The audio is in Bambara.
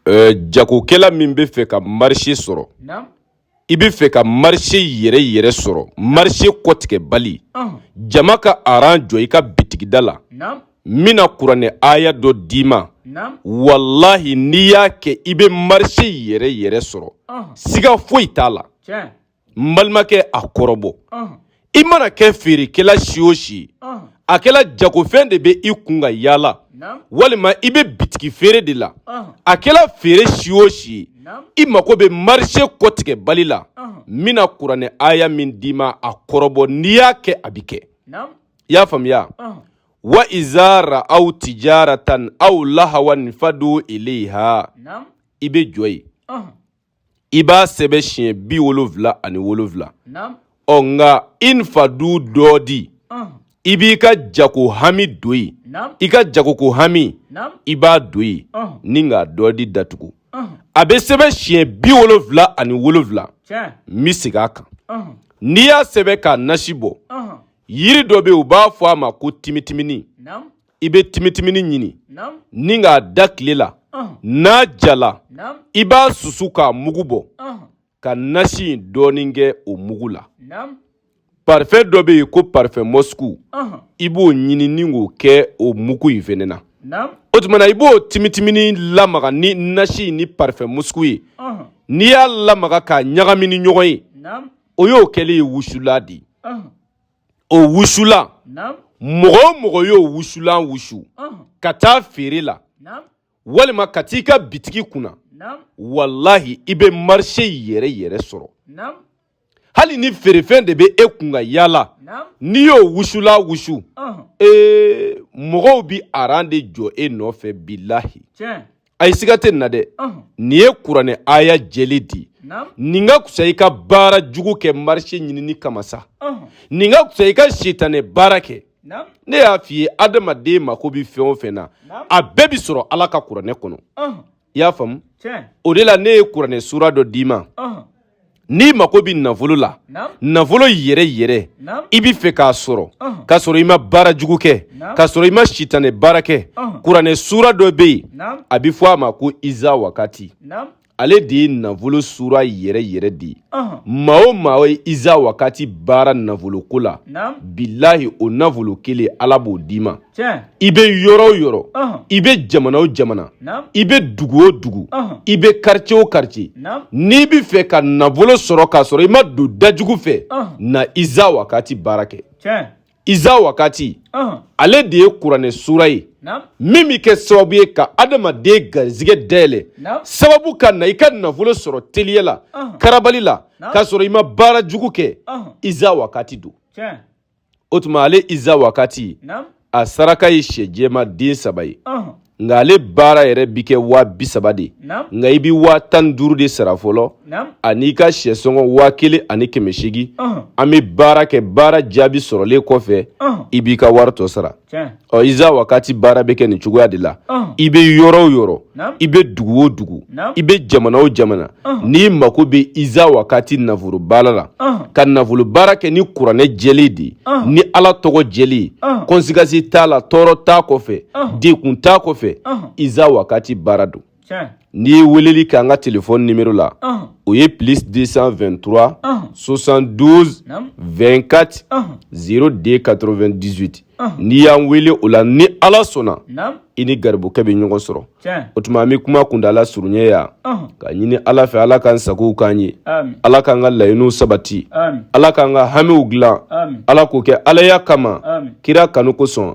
euh, jagokɛla min bɛ fɛ ka marché sɔrɔ i bɛ fɛ ka marché yɛrɛ yɛrɛ sɔrɔ marché kɔtigɛbali jama ka aran jɔ i ka bitigida la n bɛna kuranɛ aya dɔ d'i ma wallahi n'i y'a kɛ i bɛ marché yɛrɛ yɛrɛ sɔrɔ siga foyi t'a la n balimakɛ a kɔrɔbɔ i mana kɛ feerekɛla si o si a kɛla jagofɛn de bɛ i kun ka yaala walima i bɛ bitigi feere de la a kɛla feere si o si i mago bɛ marché kɔtigɛbali la n bɛna kuranɛ aya min d'i ma a kɔrɔbɔ n'i y'a kɛ a bɛ kɛ i y'a faamuya wa iza ra'aw tijaratan aw lahawan infadu ilayha i bɛ jɔ yen i b'a sɛbɛn siɲɛ bi wolonfila ani wolonfila ɔ nka infadu dɔɔdi i b'i ka jago hami don yen i ka jagoko hami i b'a don yen ni ka dɔɔdi datugu a bɛ sɛbɛn siɲɛ bi wolonfila ani wolonfila n bɛ segin a kan n'i y'a sɛbɛn k'a nasi bɔ yiri dɔ bɛ u b'a fɔ a ma ko timitimini i bɛ timitimini ɲini ni k'a da tile la n'a jala i b'a susu k'a mugu bɔ ka nasi in dɔɔnin kɛ o mugu la parfum dɔ bɛ yen ko parfum Moscou i b'o ɲini ni k'o kɛ o mugu in fɛnɛ na o tuma na i b'o timitimini lamaga ni nasi ni parfum Moscou ye n'i y'a lamaga k'a ɲagami ni ɲɔgɔn ye o y'o kɛlen ye wusulan de ye o wusulan mɔgɔ o mɔgɔ y'o wusulan wusu ka taa feere la walima ka t'i ka bitigi kunna walahi i bɛ marché yɛrɛ yɛrɛ sɔrɔ hali ni feerefɛn de bɛ e kun ka yaala n'i y'o wusulan wusu ee mɔgɔw bɛ aran de jɔ e nɔfɛ bilahi a ye siga tɛ nin na dɛ nin ye kuranɛ aya jɛlen di nin ka kusa i ka baara jugu kɛ marché ɲinini kama sa nin ka kusa i ka sitanɛ baara kɛ ne y'a f'i ye adamaden mako bɛ fɛn o fɛn na a bɛɛ bɛ sɔrɔ ala ka kuranɛ kɔnɔ i y'a faamu o de la ne ye kuranɛ sura dɔ d'i ma n'i mako bɛ nafolo la nafolo yɛrɛ yɛrɛ i bɛ fɛ k'a sɔrɔ k'a sɔrɔ i ma baara jugu kɛ k'a sɔrɔ i ma sitanɛ baara kɛ kuranɛ suura dɔ bɛ yen a bɛ fɔ a ma ko iza wakati ale de ye nafolo suura yɛrɛ yɛrɛ de ye maa o maa ye iza wakati baara nafoloko la bilahi o nafolo kelen ala b'o d'i ma i bɛ yɔrɔ o yɔrɔ i bɛ jamana o jamana i bɛ dugu o dugu i bɛ karicɛ o karicɛ n'i bɛ fɛ ka nafolo sɔrɔ k'a sɔrɔ i ma don dajugu fɛ na iza wakati baara kɛ iza wakati ale de ye kuranɛ sura ye min bɛ kɛ sababu ye ka adamaden garisɛgɛ dayɛlɛ sababu ka na i ka nafolo sɔrɔ teliya la karabali la k'a sɔrɔ i ma baara jugu kɛ iza wakati don o tuma ale iza wakati a saraka ye sɛ jɛman den saba ye nka ale baara yɛrɛ bi kɛ waa bi saba de nka i bɛ waa tan duuru de sara fɔlɔ ani i ka sɛsɔngɔ waa kelen ani kɛmɛ seegin an bɛ baara kɛ baara jaabi sɔrɔlen kɔfɛ i b'i ka wari tɔ sara ɔ iza wakati baara bɛ kɛ nin cogoya de la i bɛ yɔrɔ o yɔrɔ i bɛ dugu o dugu i bɛ jamana o jamana n'i mako bɛ iza wakati nafolo baara la ka nafolo baara kɛ ni kuranɛ jɛlen de ni ala tɔgɔ jɛlen ye kɔnsekansi t'a la tɔɔrɔ t'a kɔfɛ degun t'a kɔfɛ iza wakati baara don n'i ye weleli kɛ an ka telefɔni nimero la o ye plus deux cent vingt-trois soixante-douze vingt-quatre zéro deux quatre-vingt-dix-huit n'i y'an wele o la ni ala sɔnna i ni garibukɛ bɛ ɲɔgɔn sɔrɔ o tuma an bɛ kuma kuntaala surunya yan ka ɲini ala fɛ ala k'an sagow k'an ye ala k'an ka laɲiniw sabati ala k'an ka hamiw dilan ala k'o kɛ alaya kama kira kanu kosɔn